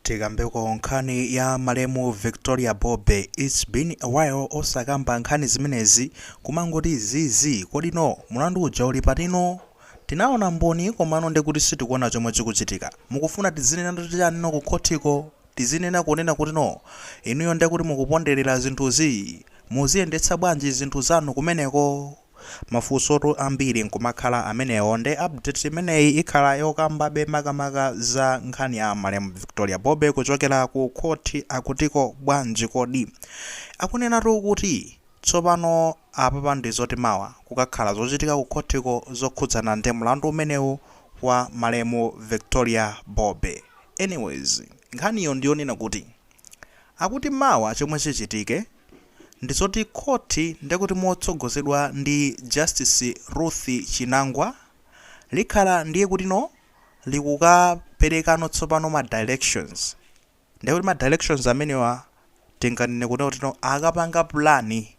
Tikambeko nkhani ya malemu Victoria Bobe, its been a while osakamba nkhani zimenezi kumangoti zii kodi no mulandu uja uli pati no tinaona mboni komano ndekuti sitikuona chomwe chikuchitika mukufuna tidzinenatu chani no kukhotiko tidzinena kunena kuti no inuyo ndekuti mukupondereza zinthuzi muziyendetsa bwanji zinthu zanu kumeneko Mafunsotu ambiri nkumakhala amenewo nde update imeneyi ikhala yokambabe makamaka za nkhani ya malemu Victoria Bobe kuchokera ku khothi akutiko bwanji kodi? Akunenatu kuti tsopano apapa ndi zoti mawa kukakhala zochitika ku khothiko zokhudzana ndi mlandu umenewu wa malemu Victoria Bobe. Anyways nkhaniyo ndi yonena kuti. Akuti mawa chomwe chichitike ndizoti khothi ndekuti motsogozedwa ndi Justice Ruth Chinangwa likhala ndiye kutino likukaperekano tsopano ma directions ndekuti ma directions amenewa tinganene kutino akapanga pulani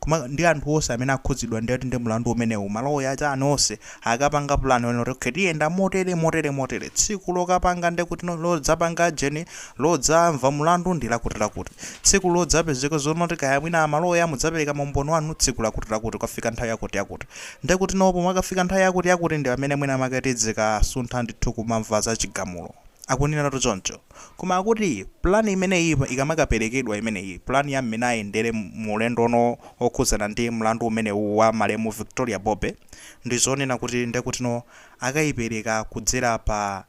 Koma ndi anthu onse amene akhudzidwa ndithu ndi mlandu umenewu, maloya, chani onse akapanga plan yonena kuti okay tiyenda motere, motere, motere, tsiku lokapanga ndekuti no, lodzapanga ujeni, lodzamva mlandu ndi lakuti lakuti, tsiku lodzapezeka zonoti kaya mwina maloya mudzapereka maumboni wanu tsiku lakuti lakuti kwafika nthawi yakuti yakuti ndekuti no pomakafika nthawi yakuti yakuti ndipamene mwina mwake tidzikasuntha ndithu kumamva za chigamulo, akuneneratu choncho. Koma akuti plan imeneyi ikamakaperekedwa imeneyi, plan ya mmene ayendere mu ulendo uno wokhudzana ndi mlandu umenewu wa malemu Victoria Bobe, ndi zonena kuti ndekutino akaipereka kudzera pa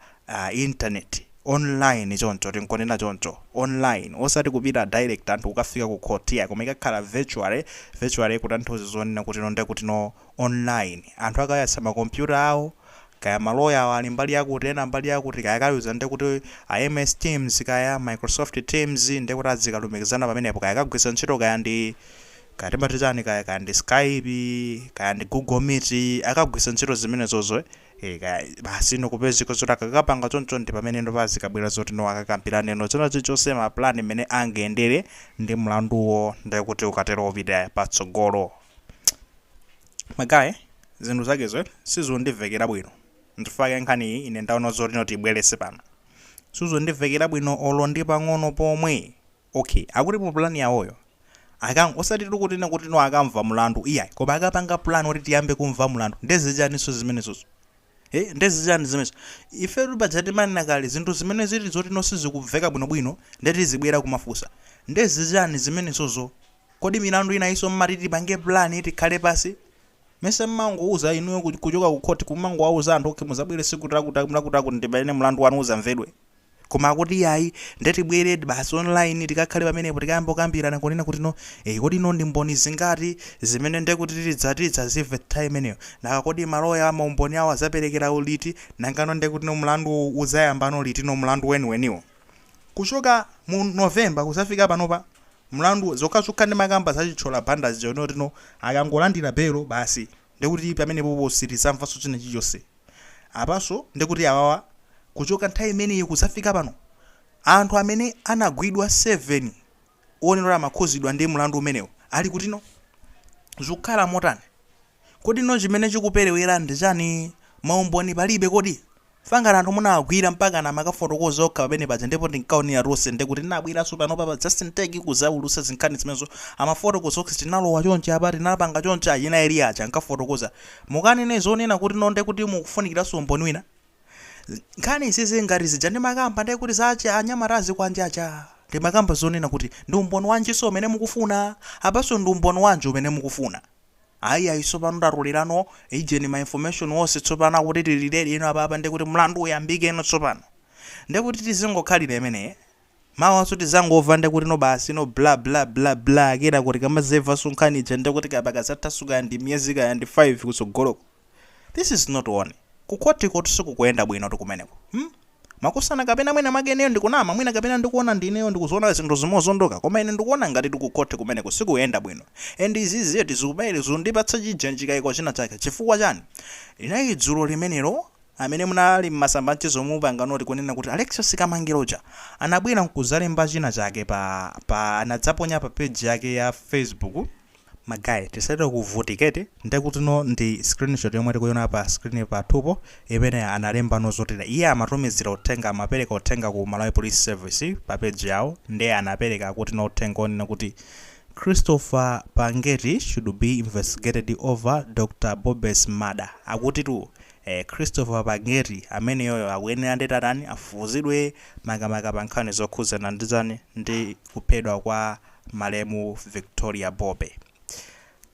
internet, online choncho, tingonena choncho, online, osati kupita direct anthu kukafika ku court iyayi, koma ikakhala virtually, virtually kutanthauza zonena kutino ndekutino. online. Anthu akayatsa ma computer awo, kaya ma lawyer awo ali mbali yakuti ena mbali yakuti, kaya akayuza ndekuti a MS Teams kaya Microsoft Teams ndekuti adzikalumikizana pamenepo kaya akagwiritsa ntchito kaya ndi kaya timati chani kaya, kaya ndi Skype, kaya ndi Google Meet, akagwiritsa ntchito zimenezozo eh kaya basi no kupezeka zoti akakapanga choncho ndipamene no pazikabwera zoti no akakambiraneno china chilichonse ma plan mmene angayendere ndi mlanduwo ndekuti ukatero upite patsogolo. magaye zinthu zakezo sizundimvekera bwino ndifake nkhaniyi ine ndaona zotino tibwerese pano sizundimvekera bwino olo ndi pang'ono pomwe okay akuti mu plan yawoyo akang osati tikunena kuti no akamva mlandu iyayi koma akapanga plan kuti tiyambe kumva mlandu ndezichaninso zimenezozo Eh, ndezichani zimenezo ifetu paja timanena kale zinthu zimene zili zotino sizikumveka bwinobwino ndetizibwera kumafunsa ndezichani zimenezozo Kodi milandu inayinso mmati tipange plan tikhale pansi? Mesa mumangouza inuyo kuchoka ku court kumangouza anthu ok muzabwere siku lakuti lakuti lakuti ndipamene mlandu wanu uzamvedwe koma akuti iyayi nde tibwere basi online tikakhale pamenepo tikayamba kukambirana kunena kuti no ee kodi no ndi mboni zingati zimene ndekuti tidza tidzazimve nthawi imeneyo nanga kodi maloya a maumboni awo azaperekera liti nanga no ndekuti no mlanduwu udzayamba no liti no mlandu weniweniwo kuchoka mu November kuzafika panopa mlandu zokhazokha ndimakamba za chithyola banda zija chonena kuti no akangolandira belo basi ndekuti pamenepopo sitizamvanso china chilichonse apanso ndekuti awawa kuchoka nthawi imeneyo kudzafika pano anthu amene anagwidwa 7 onena kuti amakhuzidwa ndi mlandu umenewo ali kutino zikukhala motani? Kodi no chimene chikuperewera ndi chani ma umboni palibe kodi? Chifukwa ngati anthu munawagwira mpakana amakafotokoza okha pamene paja ndipo tinkaonera tonse nde kuti tinabweraso panopa pa Just In Tech kuzaulutsa zinkhani zimenezo amafotokoza okha tinalowa chonchi apa tinapanga chonchi achina Eli aja ankafotokoza mukanene zonena kuti no nde kuti mukufunikiraso umboni wina nkhani izizi ngati zija ndimakamba nde kuti za achi anyamata azikwanje aja ndimakamba zonena kuti ndi umboni wanjiso umene mukufuna apaso ndi umboni wanji umene mukufuna ayi ayi tsopano tatolelano ijeni ma information onse tsopano akuti tili ready no apapa ndikuti mlandu uyambike no tsopano ndikuti tizingokhalira imene mawanso tizangomva ndikuti no basi no bla bla bla bla kenaka tikamazamvanso nkhani ija ndikuti papita zathanso kaya ndi miyezi kaya ndi 5 kutsogoloko This is not on. Ku court kotu sizikuyenda bwinotu kumeneko. Hmm? Makosana kapena mwina mwake ineyo ndikunama, mwina kapena ndikuona ndi ineyo ndikuziona zinthu zimozondoka, koma ine ndikuona ngatitu ku court kumeneko sizikuyenda bwino. And izizi eti zikumeneti zikundipatsa chijeni chikaiko china chake. Chifukwa chani? Linali dzulo limenelo amene munali m'masamba a mchezo munapanga notice kunena kuti Alexious Kamangila uja anabwera nkuzalemba china chake pa pa anadzaponya pa page yake ya Facebook Ma guy tisachite kuvutika eti ndekutino ndi screenshot yomwe tikuiona pa screen pathupo imene analemba no zotere iye amatumizila uthenga amapeleka uthenga ku Malawi Police Service pa page yawo nde anapeleka akutino uthenga onena kuti Christopher Pangeti should be investigated over Dr Bobbe's murder akutitu eh Christopher Pangeti ameneyoyo akuyenera nditatani afufuzidwe makamaka pa nkhani zokhuzana ndi chani ndi kuphedwa kwa malemu Victoria Bobe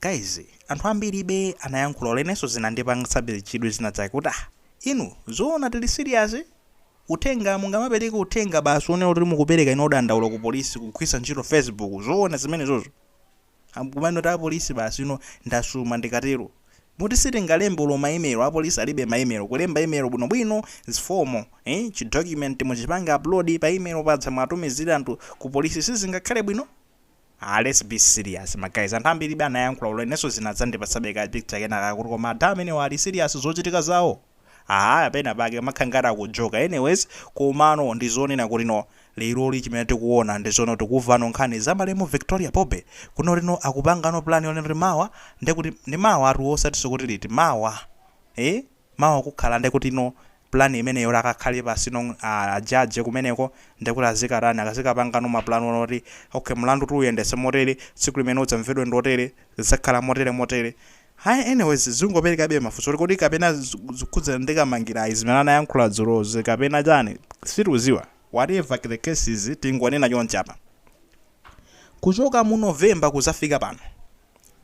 guys anthu ambiribe anayankhula olo ineyonso zinandipangitsabe chidwi zina zake kuti ah inu zoona tili serious uthenga mungamapereke uthenga basi onena kuti mukupereka ino dandaulo ku polisi kugwiritsa ntchito facebook zoona zimenezozo Am- kumene kuti apolisi basi ino ndasuma ndikatero Moti sitingalembe olo ma email, apolisi alibe ma email, kulemba email bwino bwino is formal, eh chi document muchipange upload pa email paja mwawatumizira anthu ku polisi sizingakhale bwino? Aaa let's be serious ma guys, anthu ambiri anayankhula olo inenso zinadzandipatsabe ka picture kenakake kuti koma ada amenewa ali serious zochitika zawo? Aaa pena pake amakhala ngati akujoka anyways komano ndi zonena kuti no lero chimene tikuona ndi zonena tikumvano nkhani za malemu Victoria Bobe kuno lino akupangano plan yonena kuti mawa nde kuti ndi mawa tu osatiso kuti liti mawa ee mawa kukhala nde kuti no plan imeneyo kuti akakhale pansi no a judge kumeneko nde kuti azikatani akazikapangano ma plan onena kuti okay mlanduwu tiuyendetse motere tsiku limene udzamvedwe ndi lotere zidzakhala motere motere Hi anyways zungoperekabe mafunso oti kodi kapena zikukhudzana ndi Kamangila zimene anayankhula dzulozi kapena chani sitikudziwa whatever the case is tingonena chonchi apa kuchoka mu November kuzafika pano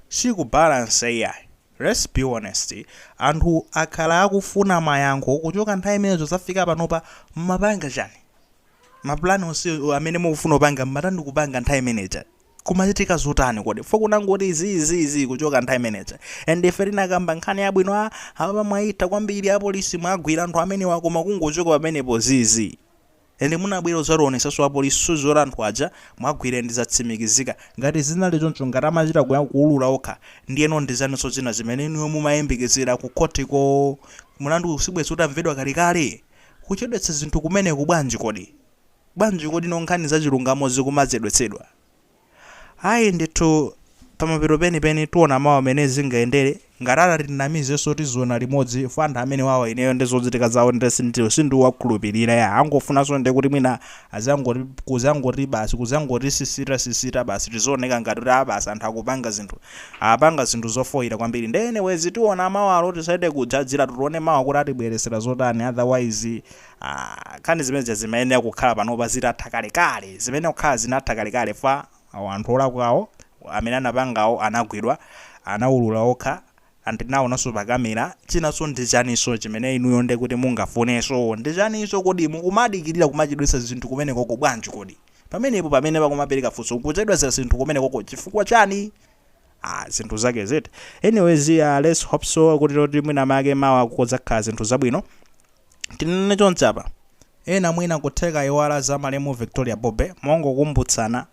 si Kubalance iyayi let's be honest anthu akhala akufuna mayankho kuchoka nthawi imeneyo kuzafika panopa mmapanga chani ma plan onse amene mukufuna kupanga mmatani kupanga nthawi imene ija Kumachitika zotani kodi? Chifukwa kunangoti zii zii zii kuchoka nthawi imeneja and ife tinakamba nkhani yabwino ah apapa mwayitha kwambiri apolisi mwagwira anthu amenewa koma kungochoka pamenepo zii zii and munabwera kudzationetsanso apolisi zoti anthu aja mwagwira and zatsimikizika. Ngati zinali choncho, ngati amachita kuulula okha ndiyeno ndi chaninso china chimene inuyo mumayembekezera ku khoti ko? Mlanduwu sibwenzi utamvedwa kalekale? Kuchedwetsa zinthu kumeneku bwanji kodi? Bwanji kodi no nkhani za chilungamo zikumachedwetsedwa? Ayi ndithu pamapeto penipeni tiona mawa mene zingayendere, ngati atatinamizenso tiziona limodzi chifukwa anthu amenewawa ineyo nde zochitika zawo nde sinditi sindikuwakhulupirira ya angofunanso nde kuti mwina azangoti kuzangoti basi kuzangotisisita sisita basi tizioneka ngati kuti a basi anthu akupanga zinthu apanga zinthu zofoira kwambiri nde anyways tiona mawalo tisachite kujajiratu tione mawa kuti atibweretsera zotani otherwise Aaa nkhani zimene zija zimayenera kukhala panopa zitatha kalekale, zimayenera kukhala zinatha kalekale chifukwa awo anthu olakwawo amene anapangawo anagwidwa, anawulula okha and tinaonanso pa camera, chinanso ndi chaninso chimene inuyo nde kuti mungafunenso, ndi chaninso kodi, mukumadikirira kumachedwetsa zinthu kumenekoko bwanji kodi, pamenepo pamene pakumapereka funso kuchedwetsa zinthu kumenekoko chifukwa chani? Aaa zinthu zake ziti, anyways aah let's hope so kuti loti mwina make mawa kudzakhala zinthu zabwino. Tinene chonchi apa ena mwina kutheka ayiwala za malemu Victoria Bobe mongokumbutsana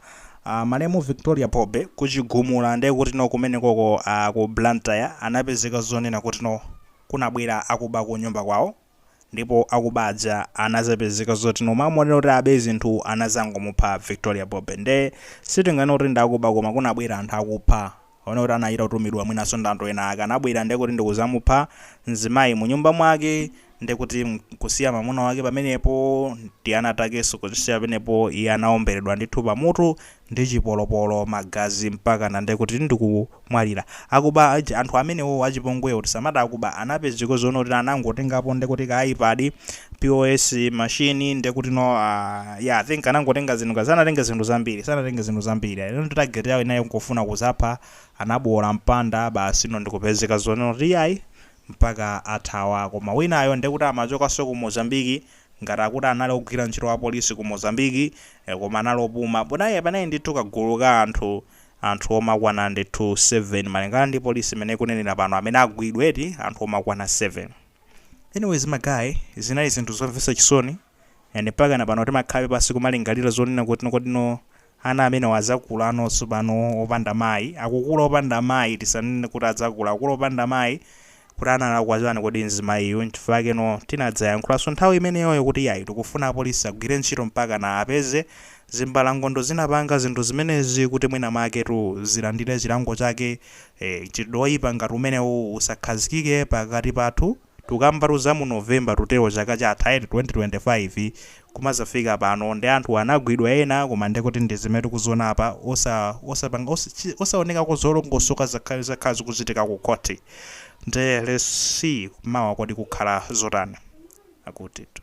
uh, malemu Victoria Bobe ku Chigumula ndiye kuti no kumenekoko uh, ah, ku Blantyre anapezeka zonena kuti no kunabwera akuba ku nyumba kwawo ndipo akuba aja anazapezeka zoti no m'malo monena kuti abe zinthu anazangomupha Victoria Bobe nde sitinganene kuti ndi akuba koma kunabwera anthu akupha anaona kuti anachita kutumidwa mwinanso ndi anthu ena ake anabwera ndekuti ndikuzamupha mzimayi munyumba mwake ndekuti nkusiya mamuna wake pamenepo ndi ana akenso kuwasiya pamenepo iye anaomberedwa ndithu pamutu ndi chipolopolo magazi mpakana ndekuti ndikumwalira akuba anthu amenewo achipongwewo tisamati akuba anapezeka zonena kuti anangotengapo ndekuti ka ipad pos machine ndekutino uh, yeah, i think anangotenga zinthu ka sanatenge zinthu zambiri sanatenge zinthu zambiri ino target yawo inali yongofuna kuzapha anabowola mpanda basi ino ndikupezeka zonena kuti iyayi mpaka athawa koma winayo ndekuti amachokanso ku mozambiki ngati akuti anali ogwira ntchito wa polisi ku mozambiki eh, koma anali opuma ponaye panali ndithu kagulu ka anthu anthu omakwana ndithu 7 malingana ndi polisi mmene ikunenera pano amene agwidwa eti anthu omakwana 7 Anyways ma guys, zinali zinthu zomvetsa chisoni and mpakana pano timakhalabe pansi kumalingalira zonena kuti kodino ana amenewa adzakulano tsopano opanda mayi, akukula opanda amayi, tisanene kuti adzakula, akukula opanda amayi, kuti analakwa chani kodi mzimayiyu, nchifukwa chakeno tinadzayankhulanso nthawi imeneyoyo kuti iyayi tikufuna apolisi agwire ntchito mpakana apeze zimbalangondo zinapanga zinthu zimenezi kuti mwina mwaketu zilandire chilango chake e Mchitidwe woyipa ngati umenewu usakhazikike pakati pathu, tukambatu za mu November tikutelo chaka chatha eti 2025 kumazafika pano nde anthuwa anagwidwa ena koma ndekuti ndizimene tikuziona apa osa osapanga osa chi osaonekako zolongosoka zakha zakhala zikuchitika ku court nde let's see mawa kodi kukhala zotani akutitu.